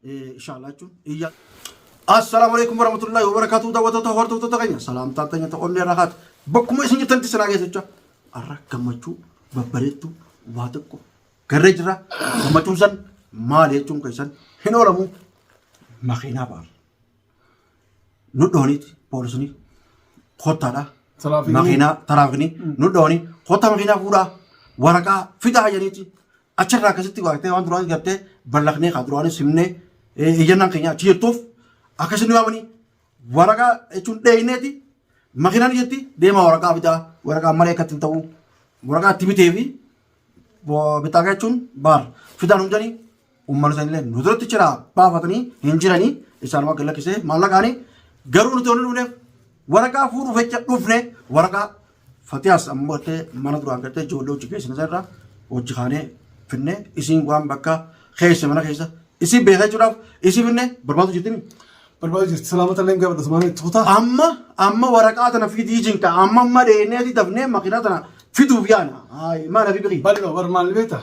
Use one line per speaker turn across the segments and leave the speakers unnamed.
inshallah jechuun iyya Assalamu alaikum warahmatullahi wabarakatuh daawwattoota hordoftoota keenya salaamtaan teenya ta'u onnee irraa haatu bakkuma isin jirtanitti sinaa geessicha har'a gammachuu babbareedduu waa tokko garree jira gammachuun san maal jechuun keessan hin oolamu makiinaa ba'a. nu dhooniiti poolisni kottaadha Taraafikni. makiinaa taraafini nu dhooni kottaa makiinaa fuudhaa waraqaa fidaa jedhaniiti achirraa akkasitti waaqtee waan duraan gartee ballaqnee kan duraan simnee iyyannaan keenya achi jettuuf akkasitti waamanii waraqaa jechuun dheeyneeti makiinaan jetti deemaa waraqaa fidaa waraqaa malee akkatti hin ta'u waraqaa itti bitee fi bittaa jechuun baar fidaan hundanii Uummanni sana illee nu duratti jira baafatanii hin jiranii isaan waan lakkisee maallaqaanii garuu nuti olii dhufneef waraqaa fuudhuuf jecha dhufne waraqaa fatiyaas ammoo gattee mana duraan gattee ijoollee hojii keessan irraa hojii kaanee finne isiin waan bakka keessa mana keessa isin beekaa jechuudhaaf isin finne barbaadu jirtimi. Barbaadu jirti
salaamata illee gaafadha sumaan itti kutaa. Amma amma
waraqaa tana fidii jinka amma amma dheennee dafnee makiinaa tana fiduuf yaana. Maal hafi biqii? Bal'oo bar maal beektaa?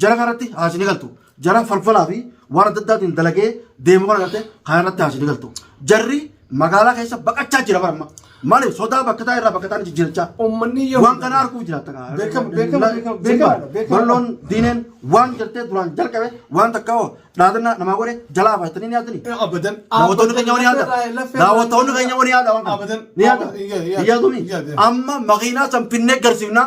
Jara kanatti haasi ni galtu. Jara falfalaa fi waan adda addaatiin dalagee deemu kana garte kanarratti haasi ni galtu. Jarri magaalaa keessa baqachaa jira bara amma. Maaliif sodaa bakka taa'e irraa bakka taa'e jijjiirachaa. Uummanni yoo Waan kana arguuf jiraata. kaa. Beekama, beekama, beekama, beekama, beekama. Balloon diineen waan jirtee duraan jalqabe waan takka hoo dhaadannaa namaa godhe jalaa faayitanii ni yaadanii. abadan Daawwattoonni
keenya wani yaada.
Daawwattoonni keenya wani yaada waan kana. Abadan. Ni yaada. Abadan. Yaa- yaa- Hin yaaduni. yaa- yaa. Amma makiinaa san finnee garsiifnaa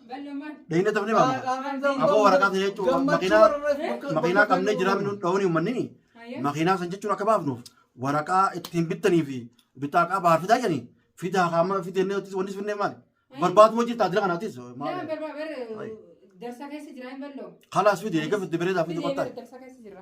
Dhayina tafne ba. Abo waraqaa ta'e jechuun makiinaa makiinaa qabnee jiraa minuu dhawanii uummanni makiinaa san jechuun akka baafnuuf waraqaa ittiin bittanii fi bittaa qaa baar fidaa jedhanii fidaa kaama fidee inni wanti wanti finnee maali barbaadu wajjin taajila kanaatis Darsa keessa
jira hin ballo. kalaas fidee eega fidee
bareedaa fidee Fidee kottaa. darsa keessa jira.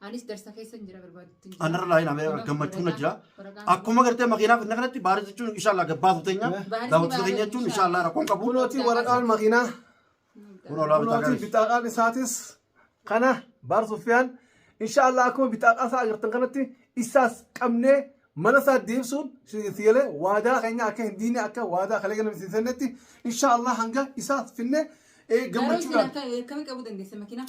Anis darsa keessan jira barbaadutti hin Anarra laayin amee
gammachuun na jira. Akkuma gartee makiinaa finna kanatti baarii jechuun inshaallah gabbaatu teenya. Daawwattoota keenya jechuun inshaallah rakkoon qabu. Kunootii waraqaan makiinaa.
Kun olaa bitaa Kunootii garis. bitaadhaan isaatis kana baar suffiyaan inshaallah akkuma bitaadhaa isaa agartan kanatti isaas qabnee mana isaa deebisuun siyalee waadaa keenya akka hin diine akka waadaa kalee galame siin sennetti inshaallah hanga isaas finne eh, Garuu isin gammachuudhaan. akka akkamii qabuu
dandeessa makiinaa?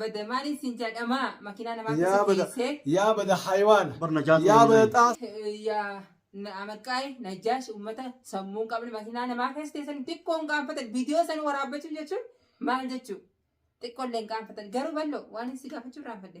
Bada
maaliin siin jaadhamaa makinaa namaa Yaa keessa bada teessee yaa
bada haywaana Bar najaatu yaa bada waliin.
xaas
yaa
na- amaqqaa'e najjaash uummata sammuun qabne makinaa namaa keessa teessan xiqqoon qaanfatan viidiyoo san waraabbachuuf jechuun maal jechuu xiqqoolleen qaanfatan garuu bal'oo waan si gaafachuu irraanfadhe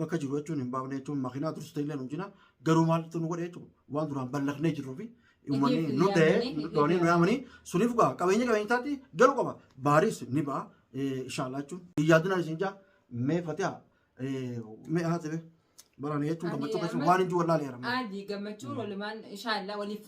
bakka jiru jechuun hin baafne jechuun makiinaa tursu ta'illee nu jina garuu maaltu nu godhe jechuun waan duraan ballaqnee jirruu fi uummanni nu ta'e doonii nu yaamanii suniif gaa qabeenya qabeenya isaatti galu qaba baariis ni ba'a inshaallah jechuun yaadinaan isin jaa mee fatiha mee haasebe baraan jechuun gammachuu keessan waan hin jiru wallaalee jedhama. Aji gammachuun
walumaan inshaallah waliif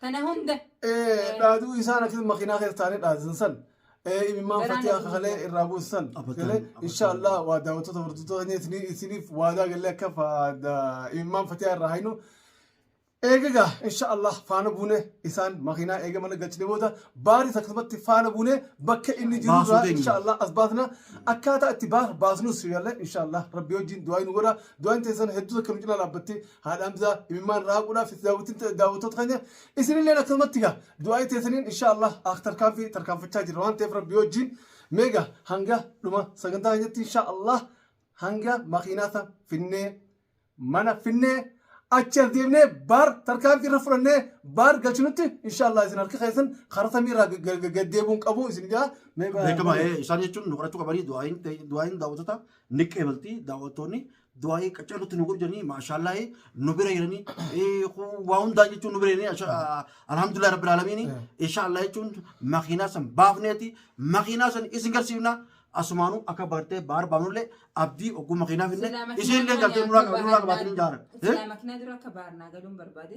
Kana hunda. Dhaaduu
isaan akkasuma makiinaa keessa taa'anii dhaadsan san. Imimmaan fatiyaa kakalee irraa buusu san. Galee inshaallah waa daawwattoota hordoftoota keenya isiniif waadaa galee akka imimmaan fatiyaa irraa hainu. Eegagaa inshaallah faana buune isaan makiinaa eega mana galchine booda baaris akkasumatti faana buune bakka inni jiru irraa inshaallah as baasna akkaataa itti baasnus galee inshaallah rabbi wajjin du'aa nu godha du'aan teessan hedduu akka nu cinaa dhaabbatte haadha hamzaa imimmaan raaquudhaaf itti daawwattoota daawwattoota keenya isinillee akkasumatti gaa du'aa'ii teessaniin insha Allah ak tarkaanfii tarkaanfachaa jirra waan ta'eef rabbi wajjin meega hanga dhuma sagantaa keenyatti insha Allah hanga makiinaasa finnee mana finnee achi as deemnee baar tarkaanfii irra fudhannee baar galchinutti insha Allah isin harka keessan karaa samii irraa gad- gad- gad deebi'uun qabu isin jaa meega beekamaa ee,
isaan jechuun nu kadhachuu qabanii du'aayin ta'e- du'aayin daawwattoota ni qeebalti daawwattoonni du'aa'ii qaccaalutti nu godhu jedhanii maashaallahi nu bira jiranii waa hundaa jechuun nu bira jiranii alhamdulillah rabbil aalamiin inshaallah jechuun makiinaa san baafneeti makiinaa san isin garsiifna asumaanuu akka bartee baar baafnullee abdii ogguu makiinaa finne isin illee gartee nuraa qabaatanii hin jaaran. Silaa makiinaa dura akka
baarnaa galuun barbaade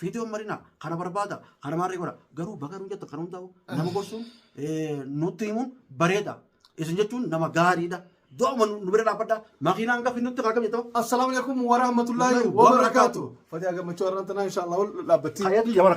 Fiidiyoon marinaa kana barbaada kana maarree godha garuu baga nu jettan kana hundaa'u nama gorsuun eh, nutti himuun bareeda isin jechuun nama gaariidha do'uma nu nu bira dhaabbadha makiinaan gafi nutti kaakam jettama Assalaamu alaikum
warahmatullaahi Wabarakaatu. wabarakaatu. Fatiyaa gammachuu har'aan tanaa inshaallah wal dhaabbattii. hayatu yamana